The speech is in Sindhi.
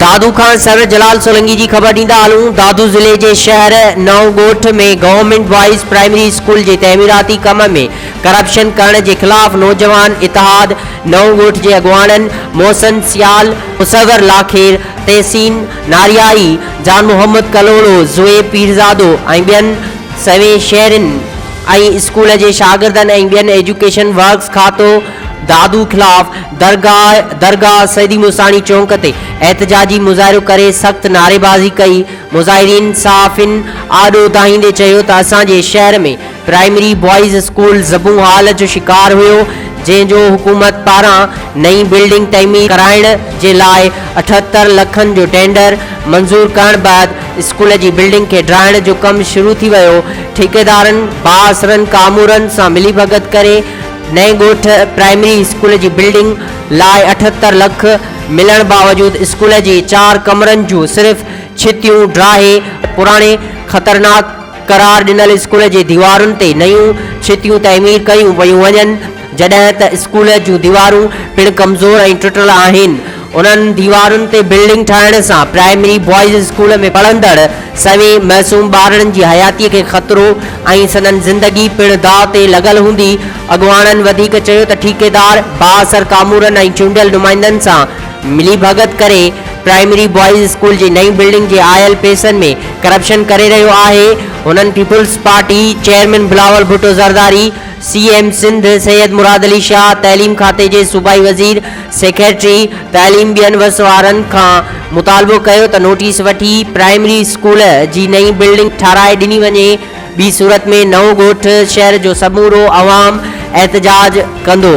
دادو کان سر جلال سولنگي جي خبر ڏيندا هلون دادو ضلعي جي شهر نئون ڳوٺ ۾ گورنمينٽ بوائز پرائمري اسڪول جي تعميراتي ڪم ۾ ڪرپشن ڪرڻ جي خلاف نوجوان اتحاد نئون ڳوٺ جي اڳواڻن محسن سيال مصور لاکير تحسين ناريائي، جان محمد ڪلهوڙو، زوئي پيرزادو ۽ ٻين سوين شهرين ۽ اسڪول جي شاگردن ۽ ٻين ايجوڪيشن ورڪس کاتو دادو خلاف درگاهه درگاهه سيدي مستاڻي چونڪ تي احتجاجي مظاهرو ڪري سخت نعريبازي ڪئي مظاهرين صحافين آڏو دانهيندي چيو ته اسان جي شهر ۾ پرائمري بوائز اسڪول زبون هال جو شڪار هيو جنهن جو حڪومت پاران نئين بلڊنگ تعمير ڪرائڻ جي لاء اٺهتر لکن جو ٽينڊر منظور ڪرڻ بعد اسڪول جي بلڊنگ کي ڊاهڻ جو ڪم شروع ٿي ويو ٺيڪيدارن بااثرن ڪامورن سان ملي ڀڳت ڪري نئين ڳوٺ پرائمري اسڪول جي بلڊنگ لاء اٺهتر لک ملڻ باوجود اسڪول جي چار ڪمرن جون صرف ڇتيون ڊاهي پراڻي خطرناڪ قرار ڏنل اسڪول جي ديوارن تي نيون ڇتيون تعمير ڪيون پيون وڃن، جڏهن ته اسڪول جون ديوارون پڻ ڪمزور ۽ ٽٽل آهن. انهن ديوارن تي بلڊنگ ٺاهڻ سان پرائمري بوائز اسڪول ۾ پڙهندڙ سوين معصوم ٻارڙن جي حياتي کي خطرو ۽ سندن زندگي پڻ داء تي لڳل هوندي. اڳواڻن وڌيڪ چيو ته ٺيڪيدار بااثر ڪامورن ۽ چونڊيل نمائندن سان ملي ڀڳت ڪري پرائمري بوائز اسڪول جي نئين بلڊنگ جي آيل پئسن ۾ ڪرپشن ڪري رهيو آهي، هنن Peoples Party chairman Bilawal Bhutto Zardari, C M Sindh Syed Murad Ali Shah, تعليم کاتي جي صوبائي وزير، سيڪريٽري تعليم ٻين وس وارن کان مطالبو ڪيو ته نوٽيس وٺي پرائمري اسڪول جي نئين بلڊنگ ٺهرائي ڏني وڃي ٻي صورت ۾ نئون ڳوٺ شهر جو سمورو عوام احتجاج ڪندو.